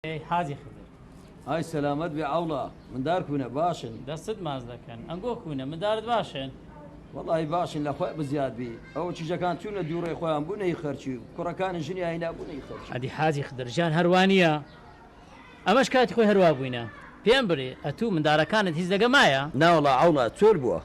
ئێ حاجی خدر. ئای سەلامەت بێ عەوڵا مندار کونە باشن. دەستت ماچ دەکەن ئەنگۆ کونە مندارت باشن. وەڵاهی باشن لە خۆی بزیاد بی ئەوە کیژەکان چونە دووڕێ خۆیان بوونە هی خەرکی و کوڕەکانی ژنی ئاینا بوونە هی خەرکی. ئەدی حاجی خدر جان هەر وا نیە ئەمەش کاتی خۆی هەر وا بووینە پێم بلێ ئەتوو مندارەکانت هیچ لەگە مایە؟ ناوەڵا عەوڵا چۆل بووە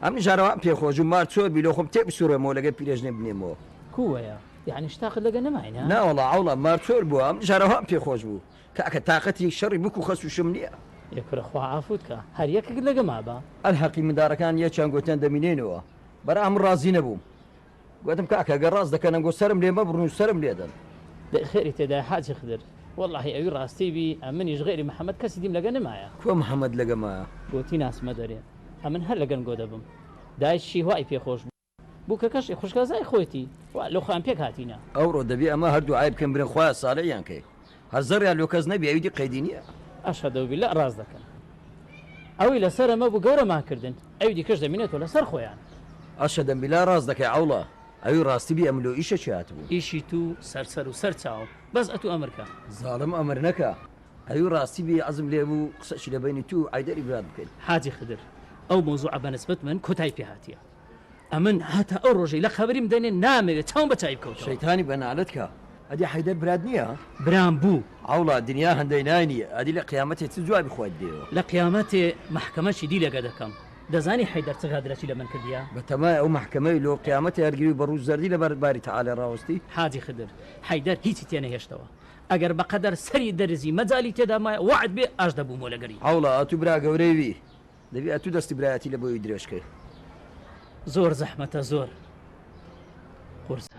ئەم نژارە وام پێ خۆش بوو مار چۆل بی لۆ خۆم تێ بسوڕێمەوە لەگەر پیرێژنێ بنێمەوە. کووەیە یەعنی شتاقت لەگە نەماین ها؟ ناوەڵا عەوڵا مارتۆر بووە ئەم جارە وام پێ خۆش بوو کاکە تاقەتی شەڕی بکو خەس و شم نیە. ئێ کورە خوا عافوت کا هەر یەکەکت لەگە مابا. ئەلحەقی مندارەکان یەکیان گۆتیان دەمینێینەوە بەرا من ڕازی نەبووم گۆتم کاکە گەر ڕاست دەکەن ئەنگۆ سەرم لێ مەبڕن و سەرم لێ دەن. دەی خێری تێدایە حاجی خدر. وەڵاهی ئەوی ڕاستی بی ئەمنیش غەیری محمد کەسی دیم لەگە نەمایە. کوە محمد لەگە مایە. گۆتی ناسمە دەرێ ئەمن هەر لەگەن گۆ دەبم دایچ شیهوای پێ خۆش بوو. بوکەکەشی خوشکەزای خۆیتی وا لۆ خۆیان پێک هاتینە. ئەوڕۆ دەبێ ئەمە هەر دوعای بکەن برێن خوایە ساڵحیان کەی هەر زەڕیان لۆ کەس نەبی ئەویدی قەیدی نیە. اشهدو باللە ڕاست دەکەن ئەوی لەسەرە مەبو گەورەمان کردن ئەوی دیکەش دەمینێتۆ لەسەر خۆیان. اشهدم باللە ڕاست دەکەی عەوڵا ئەوی ڕاستی بی ئەم لۆ ئیشەکی هاتبوو. ئیشی تو سەر سەر و سەر چاوم بەس ئەتو ئەمر کە. زاڵم ئەمر نەکە ئەوی ڕاستی بی عەزم لێ بوو قسەکی لە بەینی تو و عەیدەری برات بکەین. حاجی خدر ئەو مەوزوعە بەنسبەت من کۆتای پێ هاتیە. ئەمن هەتا ئەو ڕۆژەی لە قەبریم دەنێن نامەوێ چاوم بە چاوی بکەوتەوە. شەیتانی بە نالەت کا. ئەدی حەیدەر برات نیە؟ برام بوو. عەوڵا دنیا هەندەی نای نیە. ئەدی لە قیامەتێ چ جوابی خۆت دێیۆ؟ لە قیامەتێ مەحکەمە چی دیلێکە دەکەم. دەزانی حەیدەر چ غەدرەکی لە من کردیە؟ بە تەمای ئەو مەحکەمەی لۆ قیامەتێ هەر گریو بە ڕوو زەردی لە بەر باری تەعالا ڕاوەستی؟ حاجی خدر، حەیدەر هیچی تێ نەهێشتەوە. ئەگەر بە قەدەر سەری دەرزی مەجالی تێدا مایە وەعد بێ ئاش دەبوومۆ لەگەری. عەوڵا ئەتوو برا گەورەی وی. دەبی ئەتو دەستی برایەتی لە بۆی درێژ کەی. زۆر زەحمەتە زۆر قورسە.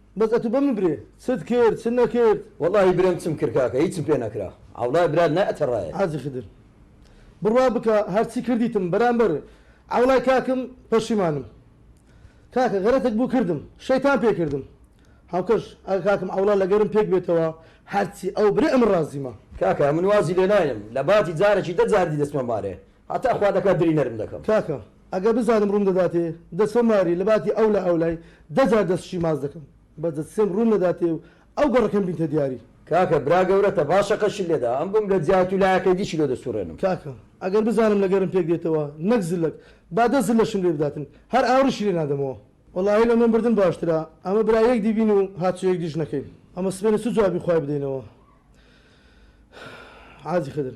بەس ئەتو بەمن برێ چت کرد چت نەکرد. وەڵاهی برێم چم کرد کاکە هیچم پێ نەکرا عەوڵای برات لای ئەتەڕایێت. حاجی خدر بڕوا بکە هەرچی کردیتم بەرامبەر عەوڵای کاکم پەشیمانم کاکە غەرەتەک بوو کردم شەیتان پێ کردم هاوکەش ئەگە کاکم عەوڵا لەگەرم پێک بێتەوە هەرچی ئەو برێ ئەمن ڕازیمە. کاکە من وازی لێناینم لە باتی جارەکی دە جار دی دەچمە مارێ هەتا خوا دەکا دری نەرم دەکەم. کاکە ئەگەر بزانم ڕووم دەداتێ دەچمە ماری لەباتی ئەو لە ئەولای دە جار دەست شیماز دەکەم بەس دەتسێم ڕووم نەداتێ و ئەو گەڕەکەم بینتە دیاری. کاکە برا گەورەتە با شەقەشی لێدا ئەم گوم لە جیات و لایەکەی دیشی لۆ دەسوڕێنم. کاکە ئەگەر بزانم لە گەرم پێک دێتەوە نەک زلەک با دە زلەشم لێ بداتن هەر ئاوڕیشی لێ نادەمەوە. وەڵاهی لە نۆم بردن باشترە ئەمە برا یەک دی بین و هاتچۆ یەک دیش نەکەین ئەمە سبەینێ چ جوابی خوای بدەینەوە حاجی خدر.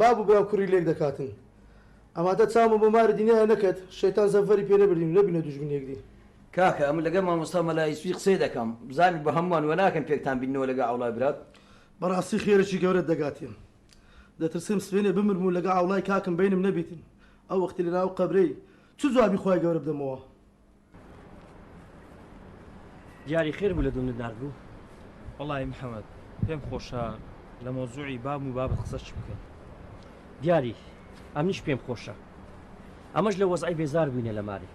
باب و برا کوری لێک دەکاتن. ئەماتە چاومە بۆ ماری دنیایە نەکەت شەیتان زەفەری پێ نەبردین و نەبینە دوژمنی یەکدی. کاکە ئەمن لەگەر مامۆستا مەلا یوسفی قسەی دەکەم بزانن بە هەمووان وەناکەن پێکتان بیننەوە لەگە عەوڵای برات. بەڕاستی خێرێکی گەورەت دەگاتێ دەترسێم سبەینێ بمرم و لەگە عەوڵای کاکم بەینم نەبیتن ئەو وەختی لەناو قەبرەی چ جوابی خوای گەورە بدەمەوە. دیاری خێر بوو لە دونت نرد بوو وەڵی محەممەد پێم خۆشە لە مۆزوعی باب و بابەت قسە چ بکەین دیاری ئەمنیش پێم خۆشە ئەمەش لە وەزای بێزار بووینە لە ماری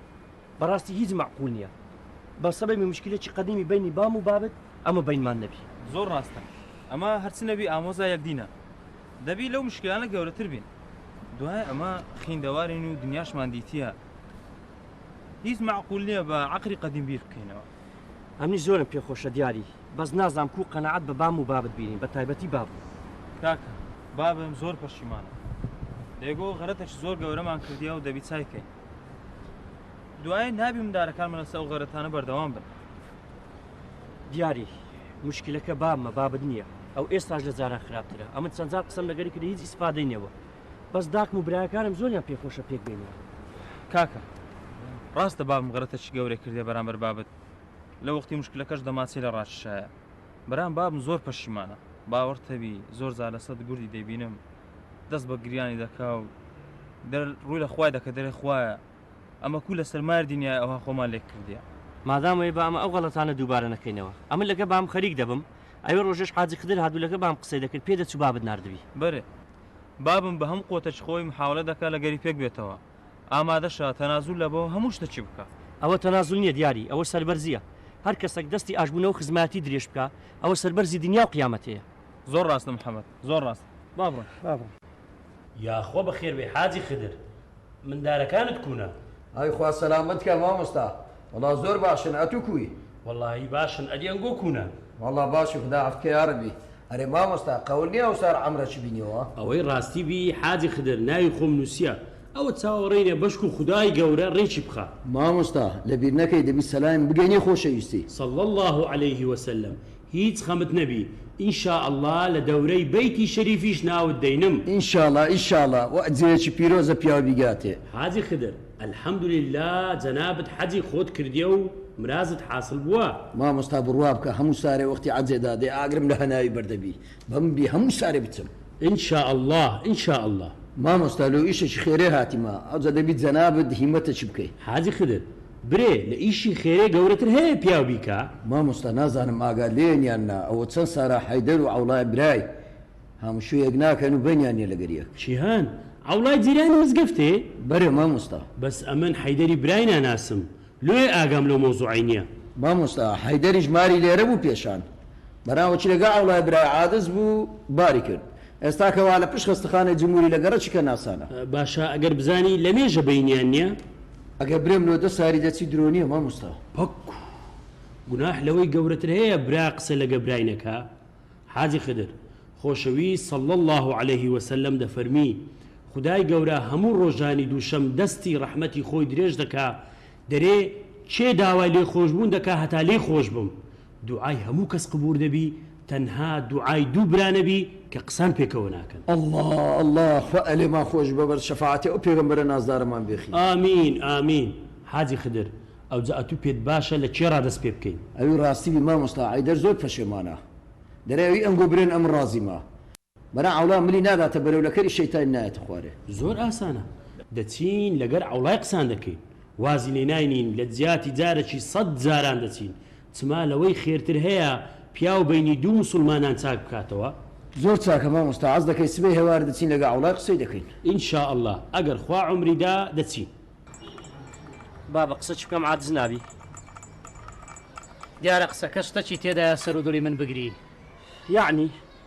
بەڕاستی هیچ مەعقول نییە بە سەبەبی مشکلێکی قەدیمی بینی بام و بابت ئەمە بینمان نەبی زۆر ڕاستە ئەمە هەرچ نەبی ئامۆزا یەکدینە دەبی لەو مشکلانە گەورەتر بین دوای ئەمە خیندەوارین و دنیاشمان دیتە هیچ مەعقول نیە بە عەقری قەدیم بیر بکەینەوە. ئەمنیش زۆرم پێ خۆشە دیاری بەس نازام کوو قەناعەت بە بام و بابت بینین بە تایبەتی باب. کاکە بابم زۆر پەشیمانە لەگۆ غەرەتەکی زۆر گەورەمان کردیە و دەبی چای کەین دوایە نابی مندارەکانمە لەسە و غەرەتانە بەردەوام بن. دیاری مشکلەکە بابمە بابت نیە ئەو ئێستاش لە جاران خراپترە ئەمن چەند جار قسەم لەگەری کردە هیچ ئیسفادەی نەبوە. بەس داکم و برایەکانم زۆریان پێ خۆشە پێک بێنەوە. کاکە ڕاستە بابم غرەتەکی گەورەی کردیە بەرامبەر بابت لە وەختی مشکلەکەش دەماچەی لە ڕاکیشایە برام بابم زۆر پەشیمانە باوەڕتەبی زۆر جار لە سەد گوردی دەیبینم دەست بە گریانی دەکا و دەر ڕووی لە خوای دەکە دەرێ خوایە ئەمە کوو لەسەر مار دینیای ئەوها خۆمان لێک کردیە. مادام وەیە با ئەمە ئەو غەڵەتانە دووبارە نەکەینەوە ئەمن لەگە بام خەریک دەبم ئەوێ ڕۆژێش حاجی خدر هات بوو لەگە بام قسەی دەکرد پێ دەچوو بابت ناردبی. بەرێ بابم بە هەموو قوتێکی خۆی محاولە دەکا لە گەری پێک بێتەوە ئامادەشە تەنازول لە بە هەموو شتەکی بکا. ئەوە تەنازول نیە دیاری ئەوە سەربەرزیە هەر کەسەک دەستی ئاش بونەوە خزمایەتی درێژ بکا ئەوە سەربەرزی دنیاو قیامەتێە. زۆر ڕاستە محمد زۆر ڕاست با بڕۆین. یاخوا بەخێربێی حاجی خدر. مندارەکانت کوونە؟ ئای خوا سەلامەت کا مامۆستا وەڵا زۆر باشن ئەتوو کوی؟ وەڵاهی باشن ئەدی ئەنگۆ کوونە؟ وەڵا باشی خودا عەفکە یارەبی. ئەرێ مامۆستا قەول نیە ئەوسار عەمرەچ بینیەوە؟ ئەوەی ڕاستی بی حاجی خدر ناوی خۆم نوسیە ئەوە چاوەڕێینە بەشکو خودای گەورە ڕێکی بخا. مامۆستا لەبیر نەکەی دەبی سەلایم بگەینێ خۆشەویستی. صلی اللە علیه وسلم هیچ خەمت نەبی ان شاء اللە لە دەورەی بەیتی شەریفیش ناوت دەینم. ئینشاڵا ئینشاڵا وە جێیەکی پیرۆزە پیاو بیگاتێ. حاجی خدر الحمدللە جەنابت حەجی خۆت کردیە و مرازت حاسڵ بووە. مامۆستا بڕوا بکە هەموو سارێ وەختی عەجێ دا دێ ئاگرم لە هەناوی بەر دەبی بەم بی هەموو سارێ بچم. ان شاء اللە ان شاء اللە. مامۆستا لۆ ئیشەکی خێرێ هاتیمە ئەوجە دەبی جەنابت هیمەتەکی بکەی. حاجی خدر برێ لە ئیشی خێرێ گەورەتر هەیە پیاو بیکا؟ مامۆستا نازانم ئاگات لێیەن یان نا ئەوە چەن سارا حەیدەر و عەوڵای برای هامشوو یەک ناکەن و بەینیان نیە لەگەر یەک. چیهان عەوڵای جیرانی مزگەفتێ؟ بەرێ مامۆستا. بەس ئەمن حەیدەری برای ناناسم لۆیە ئاگام لەو مەوزوعەی نیە. مامۆستا حەیدەریش ماری لێرە بوو پێشان بەناوەچی لەگەڵ عەوڵای برای عادز بوو باری کرد ئێستا کەوا لە پشت خەستەخانەی جموری لە گەڕەکی کەناسانە. باشە ئەگەر بزانی لەمێژە بەینیان نیە؟ ئەگەر برێم لۆ دە ساری دەچی درۆ نیە مامۆستا. پک گوناح لەوەی گەورەتر هەیە برا قسە لەگە برای نەکا حاجی خدر خۆشەویست صلی اللە علیە وسلم دەفەرمی خودای گەورە هەموو ڕۆژانی دووشەم دەستی ڕەحمەتی خۆی درێژ دەکا دەرێ کێ داوای لێخۆشبوون دەکا هەتا لێی خۆشبم دوعای هەموو کەس قبور دەبی تەنها دوعای دوو برا نەبی کە قسان پێکەوە ناکەن. اللە اللە خوا ئەلێمان خۆش بە بەر شەفاعەتی ئەو پێغەمبەرە نازدارەمان بێخی. ئامین ئامین حاجی خدر. ئەوجا ئەتوو پێت باشە لە کێ ڕا دەست پێ بکەین؟ ئەوی ڕاستی بی مامۆستا عەیدەر زۆر پەشێمانە دەرێ ئەوی ئەنگۆ برێن ئەمن ڕازیمە. برا عەوڵا ملی ناداتە بەرەو لەکەری شەیتانی نایەتە خوارێ. زۆر ئاسانە دەچین لەگەر عەوڵای قسان دەکەین وازی لێ ناینین لە جیاتی جارەکی سەد جاران دەچین چما لەوەی خێرتر هەیە پیاو بەینی دوو موسوڵمانان چاک بکاتەوە. زۆر چاکە مامۆستا عەز دەکەی سبەی هەوار دەچین لەگە عەوڵای قسەی دەکەین. ان شاء اللە ئەگەر خوا عومری دا دەچین. بابە قسە چ بکەم عادز نابی. دیارە قسەکە شتەکی تێدایە سەرو دڵی من بگری. یەعنی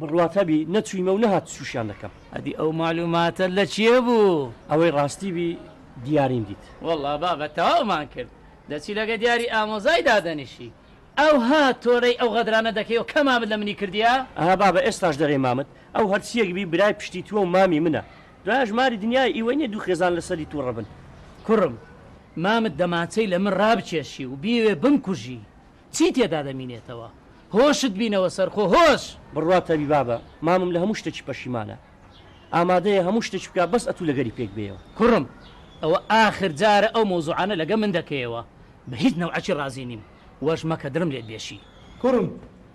بڕوات هەبی نەچویمە و نەهات چوشیان دەکەم. ئەدی ئەو مەعلوماتە لە کێ بوو؟ ئەوەی ڕاستی بی دیاریم دیت. وەڵا بابە تەواومان کرد دەچی لەگە دیاری ئامۆزای دادەنیشی ئەوها تۆرەی ئەو غەدرانە دەکەی و کە مامت لە منی کردیە. ئەها بابە ئێستاش دەرێی مامت ئەو هەرچیەک بی برای پشتی توە و مامی منە دوایەش ماری دنیای ئیوە نیە دوو خێزان لەسەری توڕە بن. کوڕم مامت دەمانچەی لە من ڕابکێشی و بیەوێ بمکوژی چی تێدا دەمینێتەوە؟ هۆشت بینەوە سەرخۆ هۆش. بڕوا تەبیبا بە مامم لە هەموو شتەکی پەشیمانە ئامادەیە هەموو شتەکی بکا بەس ئەتوو لەگەری پێک بێیەوە. کوڕم ئەوە ئاخر جارە ئەو مەوزوعانە لەگە من دەکەیەوە بە هیچ نەوعەکی ڕازی نیم واش مەکە دڵم لێت بێشی. کوڕم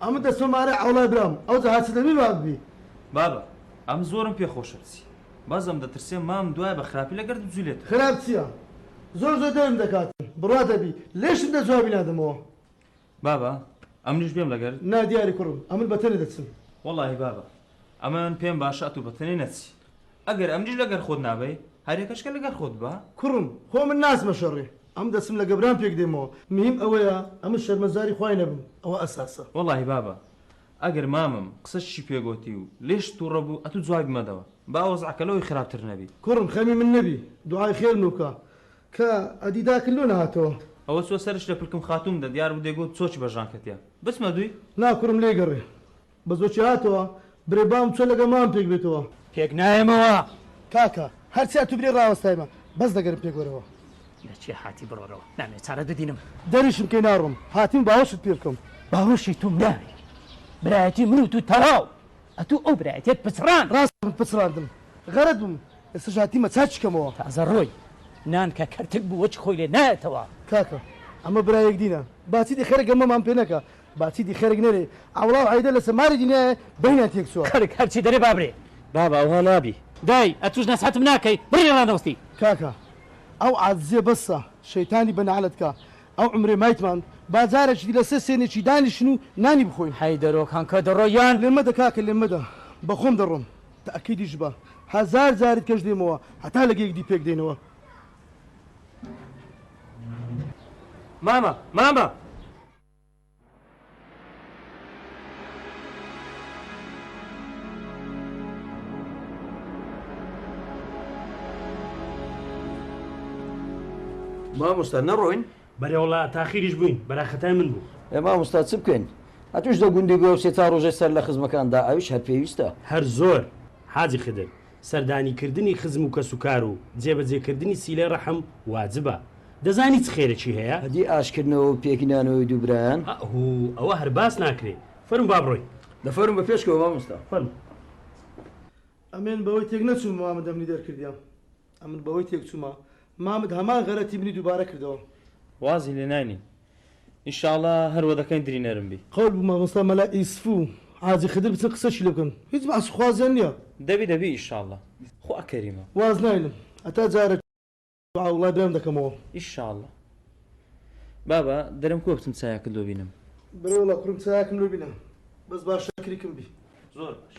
ئەمن دەچمە مارێ عەوڵای برام ئەوجا هەرچی دەبی با ببی. بابە ئەم زۆرم پێ خۆشە بچی. بەزەم دەترسێ مام دوای بە خراپی لە گەرد بجولێتەوە. خراپ چیە زۆر زۆر دەرم دەکاتن بڕا دەبی لێشم دە جوابی نادەمەوە. بابە ئەمنیش بێم لەگەرت؟ نا دیاری کوڕم ئەمن بە تەنێ دەچم. وەڵاهی بابە ئەمن پێم باشە ئەتوو بە تەنێ نەچی ئەگەر ئەمنیش لەگەر خۆت نابەی هەر یەکەشکە لەگەر خۆت با. کوڕم خۆ من ناچمە شەڕێ ئەم دەچم لە گەبران پێک دێمەوە مهیم ئەوەیە ئەمن شەرمەزاری خوای نەبم ئەوە ئەساسە. وەڵاهی بابە ئەگەر مامم قسەچی پێ گۆتی و لێشت توڕە بوو ئەتوو جوابی مەدەوە با وەزعەکە لەوەی خراپتر نەبی. کوڕم خەمی من نەبی دوعای خێرم لۆ بکە کە ئەدی داکت لۆ نەهاتەوە. ئەوە چووە سەرش لە پلکم خاتووم دە دیار بوو دەی گۆت چۆکی بە ژانکە تیا بچمە دووی. نا کوڕم لێ گەڕێ بە زۆکی هاتەوە برێ بام چۆ لەگە مام پێک بێتەوە. پێک نایەمەوە کاکە هەرچی ئەتوو برێ ڕاوەستایمە بەس دەگەرم پێک وەرەوە. لە چیا هاتی بڕۆرەوە نامێ چارە ددینم. دەریشم کەی ناڕۆم هاتیم باوەشت پێ بکەم. باوەشی تۆم ناوێ برایەتی من و تو تەواو ئەتو ئەو برایەتیەت پچڕاند. ڕاست من پچڕاندم غەرەت بوم ئێستەش هاتیمە چاکی کەمەوە. تازە ڕۆی نان کە کەرتک بوو وەچ خۆی لێ نایەتەوە. کاکە ئەمە برا یەکدینە با چیدی خەرک گەمەمان پێ نەکا با چیدی خەرک نەرێ عەوڵاو عەیدە لەسە ماری دنیایە بەینان تێک چوە. خەرک هەرچی دەرێ بابرێ. بابە ئەوها نابی. دای ئەتوش نەسحەتم ناکەی بڕی ڕانەوستی. کاکە ئەو عادزیە بەسە شەیتانی بە نەعلەت کا ئەو عومرەی مایتمان با جارەکی دی لەسەر سێنێکی دانیشن و نانی بخۆین. حەیدەرۆ کانکە دەڕۆ یان. لێم مەدە کاکە لێم مەدە بەخۆم دەڕۆم تەئکیدیش بە هەزار جاریت کەش دێمەوە هەتا لەگێک دی پێک دێنەوە. مامە مامە. مامۆستا نەڕۆین بەرێوڵا تاخیریش بووین بەراخەتای من بوو ئێ مامۆستا چ بکەین هەتوش دە گوندی گۆسێ تا ڕۆژێ سەر لە خزمەکاندا ئەوش هەر پێویستە هەر زۆر حاجی خدر سەردانیکردنی خزم و کەسوکار و جێبەجێکردنی سیلەی ڕەحم واجبە. دەزانی چ خێرێکی هەیە؟ ئەدی ئاشتکردنەوە و پێکنانەوەی دوو برایان؟ ئە هو ئەوە هەر باس ناکرێ. فەرموو با بڕۆین. دە فەرموو بە پێشکەوە مامۆستا. فەرموو. ئەمن بەوەی تێک نەچووم مامد ئەمنی دەرکردیە. ئەمن بەوەی تێکچوومە مامد هەمان غەرەتی منی دووبارە کردەوە. وازی لێناینی. ان شاء اللە هەر وەدەکەین دری نەرم بی. قەول بوو مامۆستا مەلا ئیسف و حاجی خدر بچن قسەشی لێ بکەن هیچ بەعسی خوازیان نیە. دەبی دەبی ئیشاڵڵە خوا کەریمە. واز ناینم هەتا جارەکی دوعا وڵای برایم دەکەمەوە. ئیشاڵڵە بابە درم کوە بچم چایەکت لۆ بینم. بەرێ وەڵا کوڕم چایەکم لۆ بینە بەس با شاکریکم بی. زۆر باش.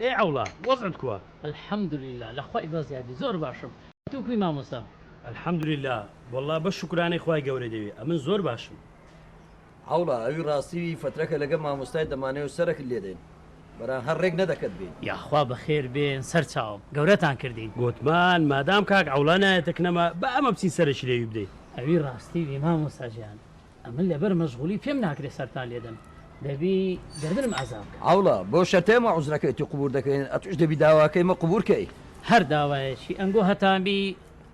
ئێ عەوڵا وەزعت کوە. الحمدللە لە خوای بەزیادی زۆر باشم تۆ کوی مامۆستا. الحمدللە واللە بەس شوکرانەی خوای گەورە دەوێ ئەمن زۆر باشم. عەوڵا ئەوی ڕاستی وی فەترەکە لەگە ماموستای دەمانەوێ سەرەکت لێدەین بەران هەر ڕێک نەدەکەت بێین. یاخوا بەخێر بێن سەرچاوم گەورەتان کردین. گۆتمان مادام کاک عەوڵا نایەتە کنەما با ئەمە بچین سەرەکی لێوی بدەین. ئەوی ڕاستی وی مامۆستا جیان. ئەمن لەبەر مەشغولی پێم ناکرێ سەرتان لێدەم دەبی گەردنم ئازا بکە. عەوڵا، بۆ شەتەی مە عوزرەکەیتی قبور دەکەین ئەتوش دەبی داواکەی مە قبور کەی. هەر داوایەکی ئەنگۆ هەتان بی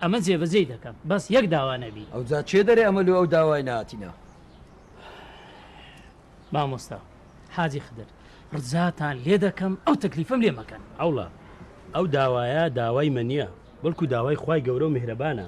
ئەمن جێ بەجێی دەکەم بەس یەک داوا نەبی. ئەوجا چێ دەرێ ئەمە لۆ ئەو داوای نەهاتینە؟ مامۆستا حاجی خدر، ڕجاتان لێ دەکەم ئەو تەکلیفەم لێ مەکەن. عەوڵا، ئەو داوایە داوای مە نیە بەڵکو داوای خوای گەورە و میهرەبانە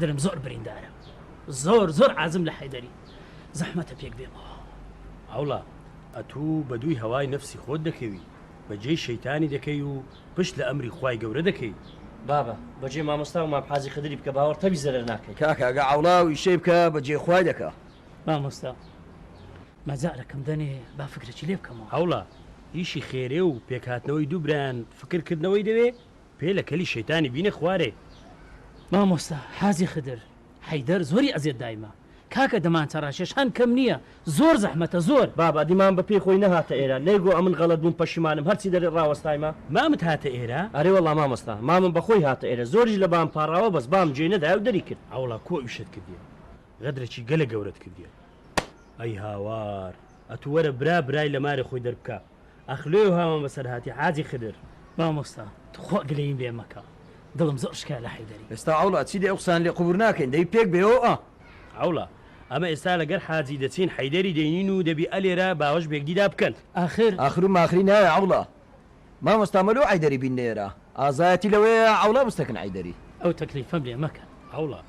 دلم زۆر بریندارە زۆر زۆر عازم لە حەیدەری زەحمەتە پێک بێمەوە. هەوڵە ئەتوو بە دووی هەوای نەفسی خۆت دەکەوی بە جێی شەیتانی دەکەی و پشت لە ئەمری خوای گەورە دەکەی. بابە بە جێ مامۆستا و مام حاجی خدری بکە باوەڕ تەوی زەرەر ناکەی. کاکە ئەگە عەوڵا و ئیشەی بکە بە جێ خوای دەکا. مامۆستا مەجالەکم دەنێ با فکرەکی لێ بکەمەوە. هەوڵە ئیشی خێرێ و پێک هاتنەوەی دوو برایان فکر کردنەوەی دەوێ پێ لە کەلی شەیتانی بینە خوارێ. مامۆستا حاجی خدر حەیدەر زۆری ئەزێت دایمە. کاکە دەمانچە ڕاکێش هان کەم نیە زۆر زەحمەتە زۆر. بابە دیمان بە پێی خۆی نەهاتە ئێرە نەی گۆ ئەمن غەلەت بووم پەشیمانم هەرچی دەرێ ڕاوەستایمە. مامت هاتە ئێرە؟ ئەرێ وەڵا مامۆستا مامم بە خۆی هاتە ئێرە زۆریش لە بام پاڕاوە بەس بام جێی نەدایە و دەری کرد. ئەوڵا کو ئیشت کردیە غەدرەکی گەلە گەورەت کردیە ئەی هاوار ئەتوو وەرە برا برای لە مارێ خۆی دەربکا. ئاخ لۆیە هاوان بەسەر هاتی حاجی خدر. مامۆستا توخوا گلەییم لێ مەکە دڵم زۆر شکا لە حەیدەری. ئێستا عەوڵا چی دەی ئەو قسانە لێ قبور ناکەین دەی پێک بێۆ ئا. عەوڵا ئەمە ئێستا لەگەر حاجی دەچین حەیدەری دەینین و دەبی ئەلێرە باوەش بێگدیدا بکەن ئاخر. ئاخرو ماخری نایە عەوڵا. مامۆستا مەلۆ عەیدەری بین نێرا ئازایەتی لەوەیە عەوڵا بستەکن عەیدەری. ئەو تەکلیفەم لێ مەکەن. عەوڵا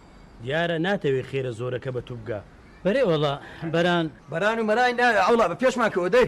دیارە ناتەوێ خێرە زۆرەکە بەتوبگا. بەرێ وەڵا بەران. بەران و مەران نایە عەوڵا بە پێشمان کەوە دەی